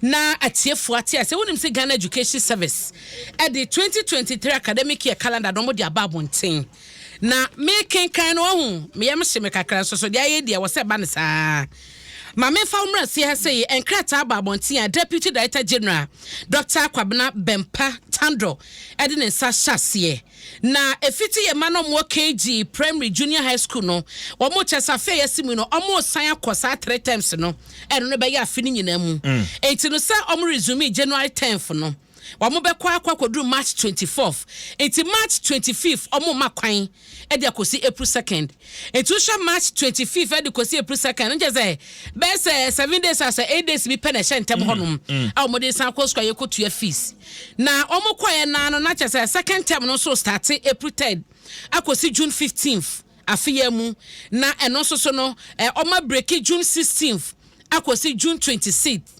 Na atiefo ate ase, wonim sɛ Ghana Education Service de twenty twenty three academic year calendar no wɔde aba abɔnten. Na mekenkan no wahu, me yam hye me kakra nso so, deɛ ayɛ di ɛwɔ sɛ ɛba no saa. Ma memfa wo mmra aseɛ ha sɛ yɛ nkrataa aba abɔnten a Deputy Director General Doctor Kwabena Bempah Tandor de ne nsa hyɛ aseɛ. Na efitsi yɛ mma no ɔmo wɔ KG primary junior high school no ɔmo kyɛ sɛ afe a yɛse mu yi no ɔmo resan akɔ saa three terms no ɛno no bɛyɛ afe no nyinaa mu ntsi no sɛ ɔmo resumee January tenth no ɔmo bɛkɔ akɔ akɔduru March twenty fourth ntsi March twenty fifth ɔmo mma kwan de akɔsi April second. Etu hyɛ March twenty fifth de kɔsi April second, no kyerɛ sɛ bɛyɛ sɛ seven days a sɛ eight days bi pɛ na ɛhyɛ ntɛm hɔnom a wɔde san kɔ sukuu a yɛkɔtua fees. Na wɔkɔeɛ no ara no, na kyerɛ sɛ second term no nso restate April third akɔsi June fifteenth afe yi ara mu, na ɛno nso so no, wɔabreki June sixteenth akɔsi June twenty sixth.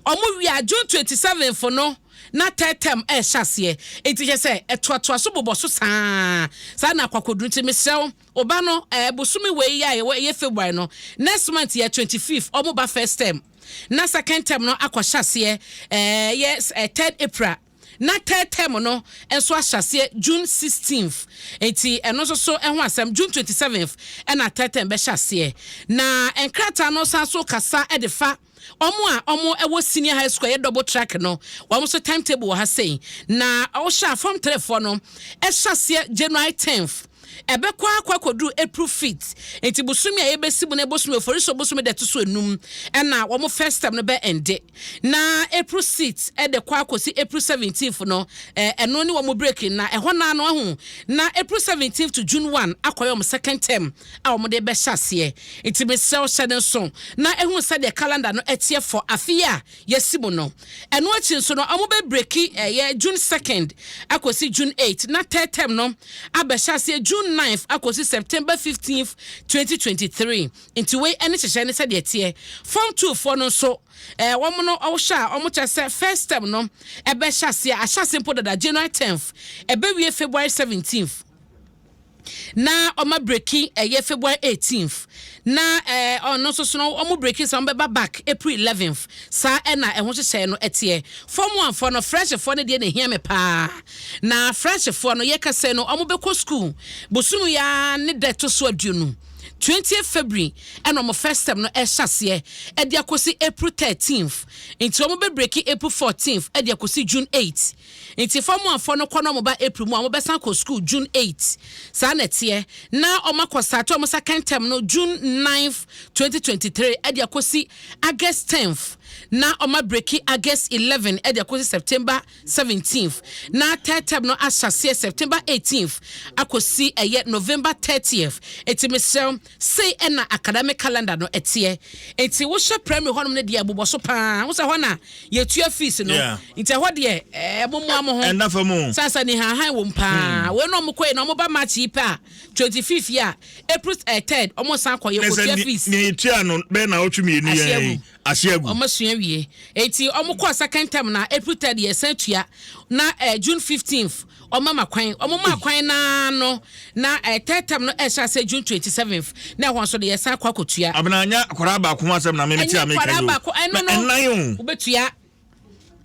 Wɔwie a, June twenty seventh no, na tɛɛtɛm rehyɛ aseɛ, enti hwɛ sɛ ɛtoatoa so bobɔ so saa ara. Saa na akwakoduru nti, mesrɛ wo, wo ba no, ɛɛ, bosome wei a yɛwɔ, ɛyɛ February no, next month yɛ twenty fifth, wɔn ba first term, na second term no akɔhyɛ aseɛ, ɛɛ, ɛyɛ ɛɛ third April, na third term no nso ahyɛ aseɛ June sixteenth, enti ɛno nso so ɛho asɛm, June twenty seventh ɛna third term bɛhyɛ aseɛ. Na nkrataa no san so kasa de fa. Wɔn a wɔwɔ senior high school a ɛyɛ double track no, wɔn nso time table wɔ ha sei. Na wohyɛ a form three foɔ no ɛhyɛ aseɛ January tenth. Ɛbɛkɔ akɔ akɔduru April fifth. Nti bosomi a yɛbɛsi mu no bosomi oforisuo bosomi da ɛto so enum ɛna wɔn first term no bɛ ɛnde. Na April sixth ɛde kɔ akɔsi April seventeenth no ɛno ne wɔn break na ɛhɔ naa no ahu na April seventeenth to June one akɔyɛ wɔn second term. a wɔde rebɛhyɛ aseɛ. Nti mesrɛ wo hyɛ no nso na hu sɛdeɛ calendar no teɛ for afe yi a yɛasi mu no. Ɛno akyi nso no wɔbɛ breki ɛyɛ June second akɔsi June eight na third term no abɛhyɛ aseɛ June ninth akɔsi September fifteenth twenty twenty three. Nti wei ɛne nhyehyɛe no sɛdeɛ ɛteɛ. Form two foɔ no nso ɛɛ wɔn no wohwɛ a wɔkyerɛ sɛ first term no ɛbɛhyɛ aseɛ ahyɛ aseɛ mpo dada January tenth ɛbɛwie February seventeenth. na ɔma breki ɛyɛ February 18th na ɛɛ eh, ɔno nso so no wɔn breki sɛ wɔbɛba back April 11th saa ɛna ɛho hyehyɛ no ɛteɛ fɔm wanfoɔ no freshfoɔ no deɛ na ehia me paa na freshfoɔ no yɛkasa no wɔn bɛkɔ school bosom ya ne dɛ to so aduonu 20 February ɛna wɔn first term no ɛhyɛ aseɛ ɛde akɔsi April 13th nti wɔn bɛ breki April 14th ɛde akɔsi June 8th. Nti fɔm one fɔ no kɔ na ɔmo ba April mu a ɔmo bɛsan akɔ sukuu June eight. Saa na ɛteɛ. Na ɔmo akɔ starte ɔmo second term no June ninth, twenty twenty three ɛde akosi August tenth. Na ɔmo abreki August eleven ɛde akosi September seventeenth. Na third term no ahyɛ aseɛ September eighteenth akosi ɛyɛ November thirtieth. Nti mesrɛ wo. Sei na academic calendar no teɛ. Nti wohyɛ primary hɔnom no deɛ ɛbobɔ so paa. Wohu sɛ ɛhɔ na yɛtua fees no. Yeah. Nti ɛhɔ deɛ eh, momoa mo ho. Ɛnna fa mu. Sasa ni hanhan wom paa. Hmm. Wei na wɔn kɔɛ na wɔn ba March yi pɛ a twenty fifth yi a April eh, third wɔn san kɔ yɛ kɔtua fees. Na sɛ nea yɛtua no bɛyɛ na awɔtwe mmienu yɛn. ase agu. Wɔn asua wie eti wɔn kɔɔ second term na April third yɛ san tua na ɛɛ eh, June fifteenth wɔn ama kwan wɔn ma kwan naa no na ɛɛ eh, third term no ɛhyɛ ase June twenty seventh na ɛhɔn so de yɛ san kɔ akɔtua. Abena anya akwadaa baako ho asɛm na mimi ti a mi ka yi o. Ɛnyɛ akwadaa baako ɛno no wobɛtua.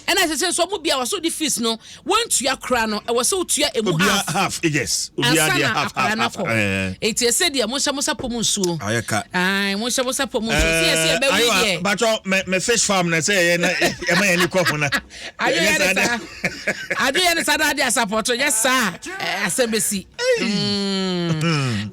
ɛna ɛsɛ sɛ nso ɔmo bia wɔsɔ de fees no wɔntua koraa no ɛwɔ sɛ wotua emu half half yes obia deɛ half half half ɛɛ eti ɛsɛ deɛ mo nhyɛ mo sapɔ mu nsuo ayɛ ka ɛɛ mo nhyɛ mo sapɔ mu nsuo ti ɛsɛ ɛbɛ wi deɛ ayiwa bàtɔ mɛ mɛ fish farm na ɛsɛ yɛ na ɛma yɛ ni kɔ ho na adi yɛ ni saa adi yɛ ni saa na adi asapɔtɔ yɛ saa asɛm bɛ si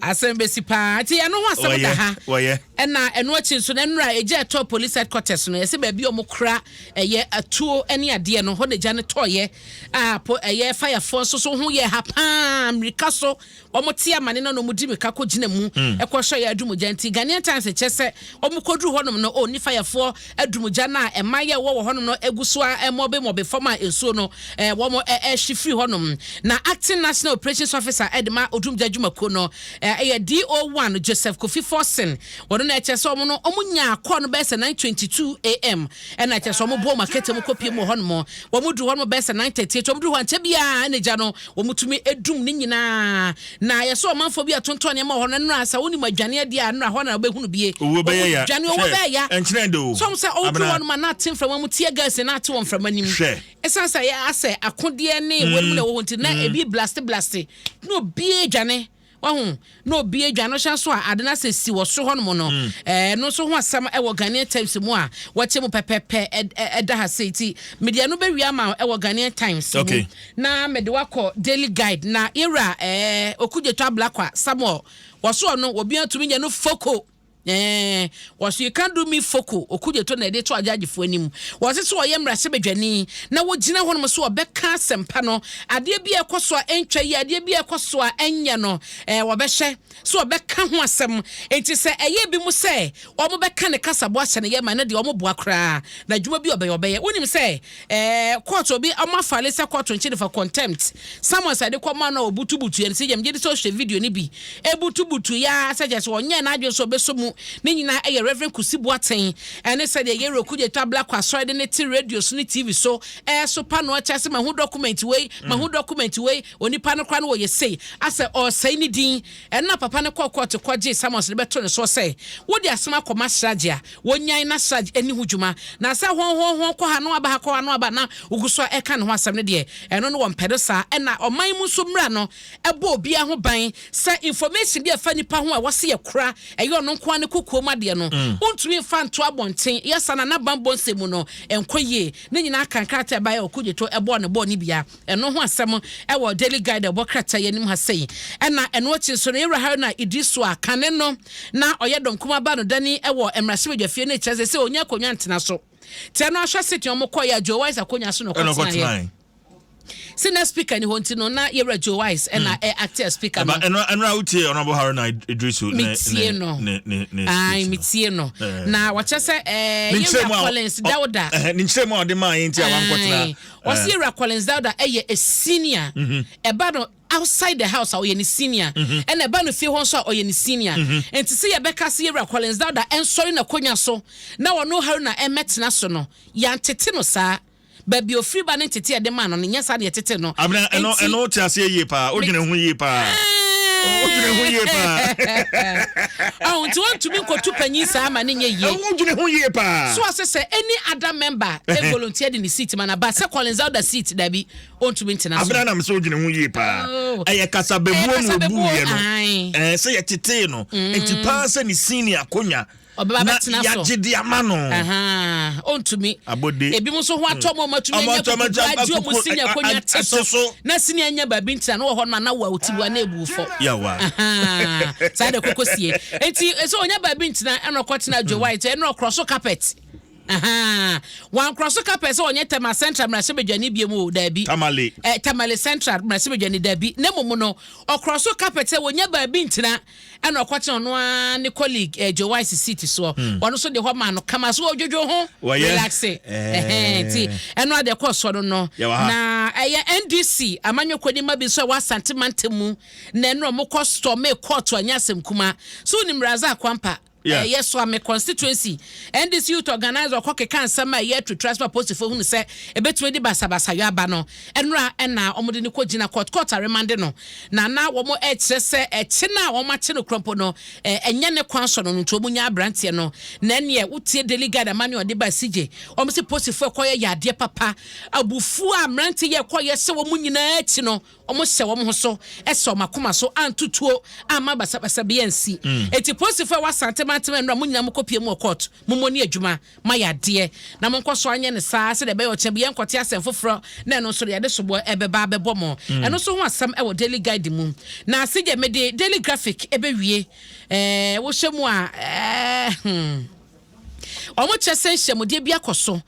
asɛm bɛ si paa ti yɛ no ho asɛm da ha wɔyɛ wɔyɛ. Ɛna ɛno akyi nso no, nnora a egya ɛtɔɔ Police Headquarters no, yɛse baabi a wɔkora ɛyɛ atuo ne adeɛ no, hɔ na egya no tɔeɛ a po ɛyɛ fayafoɔ nso so ho yɛɛ ha pa ara, mmirika so wɔte amane no na wɔdi mmirika kɔgyina mu kɔhwɛ yɛ adum gya nti Ghanaian Times kyerɛ sɛ wɔkɔduru hɔnom no, ɔɔ nni fayafoɔ Adumgya no a mmaeɛ a ɛwɔ wɔ hɔnom no gu so ara mɔbemɔbe fam a nsuo no wɔrehye firi hɔnom. Na Acting National Operations Officer de ma Odumgya dwumakuo no yɛ DO one Joseph Kofi Forson. Ɔno na ɛkyerɛ sɛ wɔn no wɔnyaa call no bɛyɛ sɛ nine twenty two AM ɛna ɛkyerɛ sɛ wɔbɔɔ wɔn akɛtɛ mu kɔpie mu wɔ hɔnom. Wɔduru hɔnom bɛyɛ sɛ nine thirty eight. Wɔduru hɔ ankyɛ biara na gya no wɔtumi dum ne nyinaa. Na ayɛ sɛ ɔmanfoɔ bi a ɔtontɔn nneɛma wɔ hɔ no, nnora a, sɛ wonim adwane adi a, nnora hɔ na wobɛhu no bie. Owuo bɛyɛ ya. Dwane owuo Hwɛ, bɛyɛ ya. ɛnkyerɛ de o. So woahu sɛ ɔreduru Abena. hɔnom a na ate mframa mu tear gas na ate wɔ mframa no mu? Hwɛ. Ɛsiane sɛ ayɛ asɛ akodeɛ ne wɔn mu na ɛwɔ hɔ nti, na ebi blaste blaste. Na obiara adwane. Wahu? Na obiara adwane. Na ɔhyɛ nso a, ade no asɛ si wɔ soro hɔnom no, ɛɛ, ɛno nso ho asɛm wɔ Ghanaian Times mu a wɔakyɛ mu pɛpɛɛpɛ, ɛ, ɛ, ɛda ha sei. Nti mede ɛno bɛwie ama wo wɔ Ghanaian Times mu. Okay. Na mede wo akɔ daily guide na yɛwura ɛɛ okudzeto ablakwa samuel wɔso ɔno wɔbi atumi nyɛ no foko ɛɛ wɔso you can do me foko okudzeto na yɛde to agyagyefoɔ anim wɔse so ɔyɛ mmarasɛbadwani na wɔgyina hɔnom so ɔbɛka asɛmpa no adeɛ bi a ɛkɔ so a ɛntwa yi adeɛ bi a ɛkɔ so a ɛnyɛ no ɛɛ wɔbɛhyɛ sɛ ɔbɛka ho asɛm. Enti sɛ ɛyɛ ebinom sɛ wɔbɛka ne kasaboa ahyɛ ne yam a, ɛno deɛ wɔboa koraa, na adwuma bi a ɔbɛyɛ, ɔbɛyɛ. Wonim sɛ ɛɛ kɔɔto obi, wɔafale sɛ kɔɔto nkye no for contempt. Samuel sɛ ɛde kɔmaa no a ɔbutubutuiɛ no, sɛ yam, megye di sɛ wohwɛ video no bi, ɛbutubutuiɛ ara sɛ kyerɛ sɛ ɔnyɛɛ n'adwene sɛ ɔbɛsɔ mu. Ne nyinaa yɛ Rev. Kusi Boateng ne sɛdeɛ Yero Kudjetwa Blacko Asɔre de no te radio so ne TV so resopa no akyɛ ase, Mahu dɔkumɛnti wei, mahu dɔkumɛnti wei. Onipa no koraa no ɔyɛ sei a sɛ ɔresɛe ne din. Ɛno na papa no kɔɔ kɔɔto kɔgyee Samuels de bɛtoo ne soɔ sɛ, Wode asɛm akɔma Siraj a wɔnyan na Siraj anni ho dwuma. Na sɛ hɔnhɔnhɔn kɔ ha na wɔaba ha, kɔ ha na wɔaba ha na wogu so ara reka ne ho asɛm no deɛ, ɛno no wɔmpɛ no saa. Ɛnna ɔman mu nso mmara no bɔ obiara ho ban sɛ information bi a ɛfa nipa ho a wɔse yɛkora, ɛyɛ ɔno nko ara ne kokoam adeɛ no, wontumi mfa nto abɔnten. Yɛ saa na na Bambɔ nsɛm mu no nkɔ yie. Ne nyinaa ka nkrataa a ɛbaeɛ a Okudzeto bɔɔ no bɔɔ no bia. Ɛno ho asɛm wɔ Daily Guide a ɛwɔ krataa yi anim ha sei. Ɛna ɛno akyi nso no, Yɛwura Haruna Iddrisu a kane no na ɔyɛ Dɔn Kumaa baanodani wɔ mmarahyɛbadwafie no kyerɛ sɛ sɛ ɔnya akonnwa ntena so. Tɛ no ahwɛ seteɛ wɔn kɔeɛ a Joe Wise akonnwa so na ɔkɔtenaeɛ. Sɛ na speaker ni hɔ nti no na Yɛwura Joe Wise ɛna hmm. ɛ acte speaker no. Ɛno ɛno a wotie Honourable Haruna Iddrisu ne ne no. ne ne ne speech. Ayi metie no. Eh. Na wɔkyɛ sɛ ɛɛ Yɛwura Collins Dawuda. Eh, ne nkyɛn mu a ɔde maa yɛn ti a wankɔtena Ɔsi Ewura Collins Dauda yɛ a senior. Ɛba no outside the house a ɔyɛ ne senior. Ɛna ɛba no fie hɔ nso a ɔyɛ ne senior. Nti sɛ yɛbɛka sɛ Ewura Collins Dauda nsɔre n'akonwa so na ɔno Haruna mmɛtena so no, yɛantete no saa. Baabi a ofiri ba ne ntete a yɛde maa no no, nyɛ saa na yɛtetee no. Abena, ɛno, Nti, ɛno wote aseɛ yie paa. Wodwene ho yie paa. ɛɛ, Wodwene ho yie paa. Ɔho nti wɔntumi nkotu panyin saa ma ne nyɛ yie. Wodwene ho yie paa. So ase sɛ any other member e volunteer de ne seat ma na ba sɛ Collins Elder seat dabi ɔntumi ntena so. Abena nam sɛ ɔgyina ho yie paa oh. ɛyɛ kasabebuo na ɔbu yɛ no ɛɛ sɛ yɛtetee no mm. nti paa sɛ ne sini akonya ɔbɛba bɛtena so yagye di ama no ɔntumi abode ebi mu nso ho atɔ mu ɔmatumi anya kukuku agye ɔmu sini akonya te so na sini anya baabi ntina na wɔ hɔ no ma na wɔ a ɔti bu a na ebu fɔ yawa saa de koko sie nti ɛsɛ ɔnya baabi ntina ɛna ɔkɔ tena adwo mm. white ɛna ɔkorɔ so carpet. Ahaa. Wankorɔ so ka pɛɛ sɛ ɔnyɛ Tema Central mmarahyɛbadwani biom o, daabi. Tamale. Ɛ, Tamale Central mmarahyɛbadwani, daabi, na mmom no, ɔkorɔ so ka pɛɛ sɛ wɔnya baabi ntena, ɛna ɔkɔtena ɔno ara ne colleague, ɛ, Joe Wise seat soɔ. Hmm. Ɔno nso deɛ hɔ maa no kama, so ɔdwodwo ho, Wɔyɛ. relaxe. Ɛhɛn, nti, Eh. ɛno ara deɛ ɛkɔɔ soɔ no no. Yɛwɔ ha. Na ɛyɛ NDC amanyɔkuoni mma bi nso a ɛwɔ Asante mantam mu na ɛno na wɔkɔ stormee kɔɔto anyɛ asɛm kumaa. So wonim Razak Kwampah? Yeah. Ɛyɛ so a me constituency NDC youth organizer ɔkɔ keka nsɛm a ɛyɛ atu tra sɛ aposifo hunu sɛ ebetumi de basabasayɔ aba no ɛnora ɛna wɔn de no kɔ gyina court court aremande no na na wɔn ɛkyerɛ sɛ ɛkye no a wɔn akye no kurɔmpo no ɛnyɛ ne kwan so no no nti wɔn nya aberanteɛ no na ɛneɛ wotie daily guide ama ne ɔde ba sigye wɔn si posifo ɛkɔyɛ yɛ adeɛ papa abufuo a mmerante yɛ ɛkɔyɛ sɛ wɔn nyinaa akyi no Wɔhyɛ wɔn ho so sɛ wɔn akoma so anto tuo amma basabasa bi ansi. Enti polisifo a ɛwɔ Asante mantam a nnora mo nyinaa mokɔpue mu wɔ kɔɔto, mommɔ ne adwuma, moayɛ adeɛ. Na monkɔ so anyɛ no saa sɛdeɛ ɛbɛyɛ ɔkyena bi yɛnkɔte asɛm foforɔ na ɛno nso de yɛde soboɔ ɛbɛba abɛbɔ mo. Ɛno nso ho asɛm wɔ Daily Guide mu. Na se deɛ mede Daily Graphic ɛbɛwie, eh, wohyɛ mu a, eh, hmm. Wɔkyerɛ sɛ nhyiamudeɛ bi akɔ so.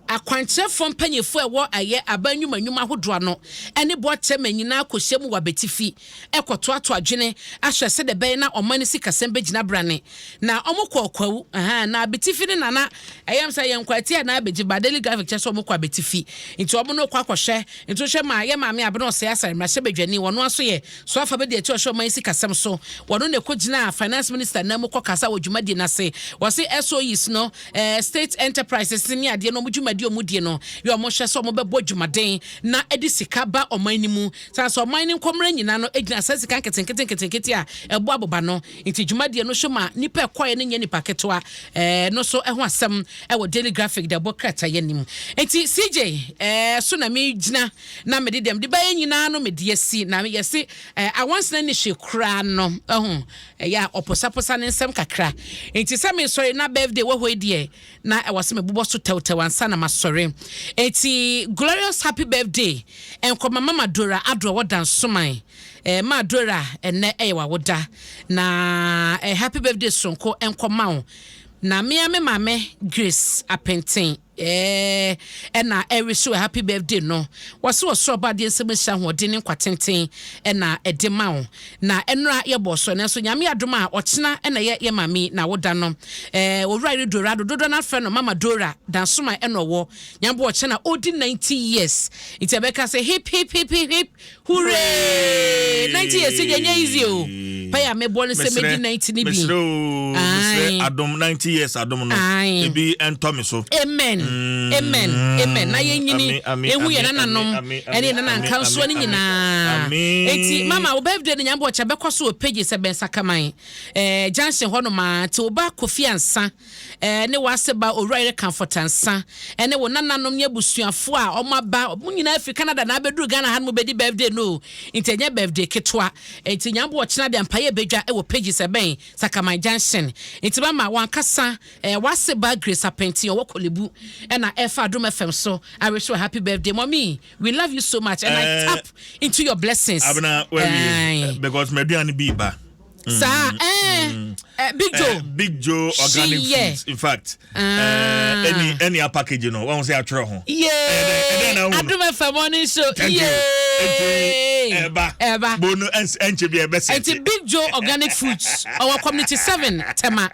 Akwankyerɛfoɔ mpanyinfoɔ a ɛwɔ ayɛ aban nnwuma nnwuma ahodoɔ ano ne Boatema nyinaa kɔhyia mu wɔ abatifi kɔtoatoa adwene ahwɛ sɛdeɛ ɛbɛyɛ na ɔman no sikasɛm bɛgyina brane. Na wɔkɔ ɔkwawu. Aha, na abatifi no na na ɛyɛ me sɛ yɛn nkwatiaa na abɛgye ba. Daily Graphic kyerɛ sɛ wɔkɔ abatifi nti wɔn na wɔkɔ akɔhwɛ. Nti wohwɛ ma yɛn maame Abena Ɔsɛe Asare mmarahyɛbadwani wɔn ara nso yɛ So afa bedi akyi ɔhwɛ ɔman yi sikasɛm so? Wɔno na ɛkɔ gyinaa Finance Minister nan mu kɔ kasa wɔ dwumadie no ase. Wɔse SOEs no, eh, State Enterprises no ne adeɛ no wɔn dwumadie a wɔn die no yɛ wɔn hwɛ sɛ wɔn bɛbɔ dwumaden na ɛde sika ba ɔman no mu. Saa nso ɔman no nkɔmmerɛ nyinaa no gyina saa sika nketenkete nketenkete a ɛbɔ aboba no nti dwumadie no so ma nnipa ɛkɔɛ no nyɛ nnipa ketewa eh, no so ho asɛm wɔ Daily Graphic de ɛbɔ krataeɛ no mu. Nti CJ eh, so na megyina. na mede deɛ mede baeɛ nyinaa no mede asi na yɛse eh, awansena ni hye koraa no ɛho ɛyɛ a ɔposaposa ne nsɛm kakra nti sɛ mesɔre na birthday wɔ hɔ deɛ na ɛwɔ sɛ mebobɔ so tɛwtɛw ansa na masɔre nti glorious happy birthday nkɔma mama dora adorɔ wɔ dansoman eh, ma dora ɛnɛ ɛyɛ wawoda na eh, happy birthday sonko nkɔma wo na mea me maame grace apenten Eeh ɛna ɛwish wo a happy birthday no wɔse ɔsoro ɔbɔ adeɛ nsɛm nhyira ahoɔden ne nkwa tenten ɛna ɛde ma wo na ɛnora yɛbɔɔ so nanso nyame adom a ɔkyena ɛna ɛyɛ yɛ maame yi n'awoda no ɛɛ owura yere dorado dodoɔ no afrɛ no mama dora dansoman ɛna ɔwɔ nyame boɔ ɔkyena ɔredi 90 years nti ɛbɛka sɛ hip hip hip hip hip Huree! Nanti yɛ se deɛ nyɛ easy o. Pay a mebɔ no sɛ medi nanti ne bi. Mesrɛ o, mesrɛ adom, nanti years adom no, ebi ɛntɔ me so. Amen, amen, amen. Na yɛ nyini, ehu yɛ nana nom, ɛne yɛ nana nkansoɔ no nyinaa. Enti mama, wo birthday no Nyame bɔ ɔkyɛ, bɛkɔ so wɔ pages ɛbɛn Sakaman, eh, junction hɔ nom aa, nti wo ba Kofi Ansa. ne w'ase ba Owura Yere Kamfotansah, ne wo nananom ne abusuafoɔ a wɔn aba, wɔn nyinaa firi Canada na abɛduru Ghana ha no mu bɛdi birthday no o, nti ɛnyɛ birthday ketewa, nti Nyame boɔ ɔkyena deɛ mpaeɛ bɛdwa wɔ pages ɛbɛn Sakaman Junction, nti mama w'ankasa w'ase ba Grace Apɛnti ɔwɔ Korle Bu na ɛfa Adom FM so I wish you a happy birthday mommy we love you so much and I tap into your blessings. Abena w'awie because m'aduane bi ba. saa mm, ɛɛ mm. Eh, big eh, joe big joe organic foods in fact ah. ɛni eh, ɛni a package no wɔn sɛ atwerɛ ho yee adum fm morning show yee ɛba ɛba bonu ɛnkyɛ bi ɛbɛ sɛ ɛti big joe organic foods ɔwɔ community seven tɛma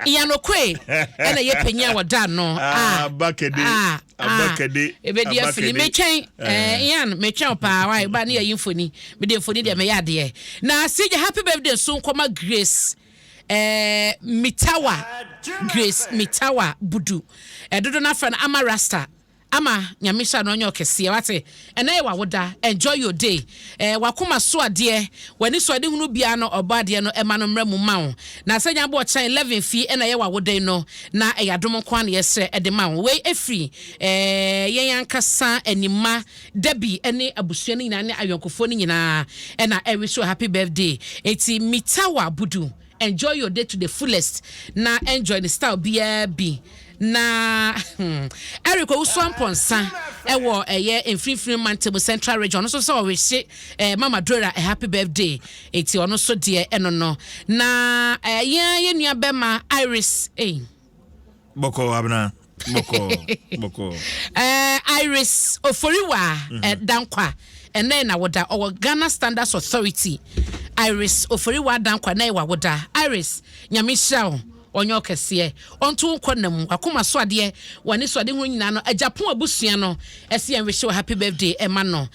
yanokoe ɛna yɛ panyin a wɔda ano ah, a bakɛde ah, abakɛde ebedi afili metwɛn ɛɛ yan metwɛn paa wa ɛba ne yɛ yi mfoni Me deɛ mfoni deɛ meyɛ adeɛ. Na CJ happy birthday nso nkɔma Grace eh, Mitawa Grace Mitawa Budu. Eh, dodo no afrɛ no Ama Rasta. Ama, Nyame nhyira no ɔnyɛ ɔkɛseɛ wate. Ɛnɛ yɛ w'awoda, enjoy your day. Eh, w'akoma so adeɛ, w'ani so ade hunu biara no ɔbɔ adeɛ no ɛma no mmra mu mma wo. Na sɛ nyabo ɔkyena 11 fie ɛna ɛyɛ w'awoda yi no, na ɛyɛ adom nko ara na yɛsrɛ ɛde ma wo. Wei ɛfiri eh, yɛn ankasa Anima. Debbie ne abusua no nyinaa ne ayɔnkofoɔ no nyinaa na ɛ wish wo happy birthday. Enti Mitawa Budu enjoy your day to the fullest na enjoy no style biara bi na hmm Eric Owusu Amponsah ɛwɔ ɛyɛ mfinimfini mantam central region ɔno nso sɛ ɔwehye eh, Mama Drora a happy birthday. Enti ɔno nso deɛ ɛno no na eh, yɛn yɛn nua bɛma Iris eh. bɔkɔɔ abena bɔkɔɔ bɔkɔɔ. ɛɛ eh, iris oforiwa mhm. eh, dankwa ɛnɛ na woda ɔwɔ ghana standards authority iris oforiwa dankwa ɛnɛ wa woda iris nyame nhyira wo ɔnyɛ ɔkɛseɛ ɔnto wo nkɔ nam wakoma so adeɛ w'ani so ade ho nyinaa no agyapo abusua no ɛsi yɛn wish happy birthday ɛma no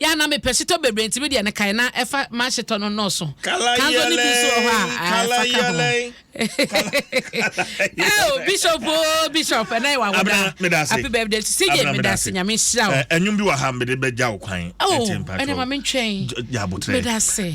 Yɛ a na me pɛ shitɔ bebree nti me deɛ no kae na ɛfa ma shitɔ no nnɔɔso. Kanzo no bi nso wɔ hɔ a ɛfa ka ho. Eo bishop oo bishop ɛnɛ yɛ wawoda. Abena me da ase. Happy birthday to CJ me da ase nyame nhyira wo. Ɛnwom bi wɔ ha mede bɛgya wo kwan. Oh ɛnɛ ma me ntwɛn. Yɛ abotrɛ. Me da ase.